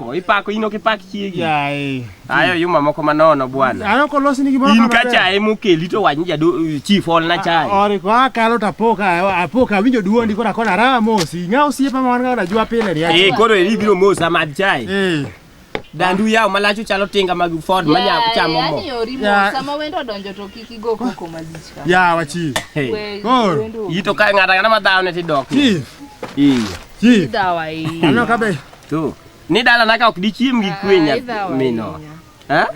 Ko ipako ino kipak chiegi. Yaye. Ayo yuma moko manono bwana. Ano kolosi ni gimoro In ka maber. chae mokeli to wach ni jado chief ol na chae. Ori ko akalo to apoka apoka awinjo duondi kora kona raha mosi. Ng'a osiepa ma wan ga najua pile ni. Eh koro eri biro mosa mad chae. Eh. Dandu yaw malacho chalo tinga mag Ford manya chamo mo. Yaani orimo Ya- sama wendo odonjo to kik igo koko malich ka. Ya wachi. Hey. We- Koro. wendo- Ito ka ng'ata ng'ata madhawo ne tidok. Chief. Iya. Chief. Dawa hii. Ano kabe. To. Ni dala na ka ok dichiem gi kwe nya mino. Ha?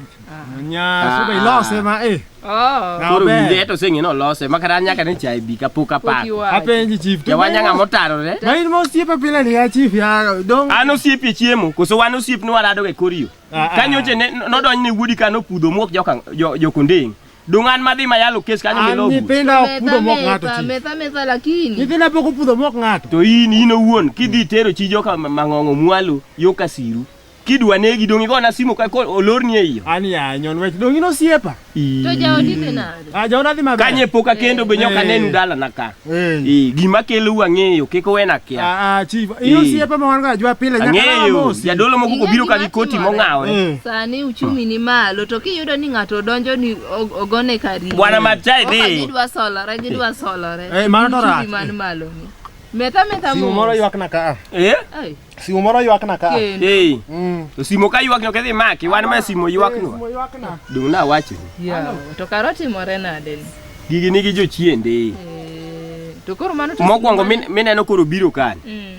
Nya so be lose ma eh. Oh. Koro winde to seng'e no lose ma kata nyaka ne chai bi ka pok apako. Apenji chief. Ja wanya ng'a motaro re. Ma in mosiepe pile ni ya chief ya dong. An osiepe chiemo koso wan osiep ni warado ga koriyo. Kanyoche ne nodonj ne wuodi ka nopudho muok joka jokondeng. Dungan madhi mayalo kes kanyo An milogu. nyithinda ok pudho mok ng'ato Metha, chi. metha, metha lakini. Nyithinda pok opudho mok ng'ato. To in in owuon kidhi tero chi joka ma- mang'ong'o mwalo yo kasiru. Kidwa negi dong igona simu ka ko olorni e iyo. An ya nyon wech dong in osiepa. To jaodi dhi nade? Ah, jaoda dhi maber. Kanye poka kendo be nyoka Eh. nenu dala na ka. Eh. Eh, gima kelo u ang'eyo kik uwena kia. Ah, ah chief. Eh. Iyo siepe ma wan ga jwa pile nyaka na mosi. Jadolo moko kobiro ka gi koti mong'awre. Eh. Sani uchumi ni malo to kiyudo ni ng'ato donjo ni ogone kari. Bwana Machai dhi. Gidwa solore, gidwa solore. Eh, mano to rach. Uchumi man malo ni. Metha metha mo. Simu moro ywak na ka. Eh? Ai. Simo moro ywakna ka. Kendo. Hey, Mm. to simo ka ywak nyok idhi maki, wan ma simo ywak no. Simo ywakna. Dong' na wacho. Yawa, to kara otimore nade ni? Gigi nigi jochiende. Eh, To koro mano to- Mokwongo min- mineno koro biro kani. Mm.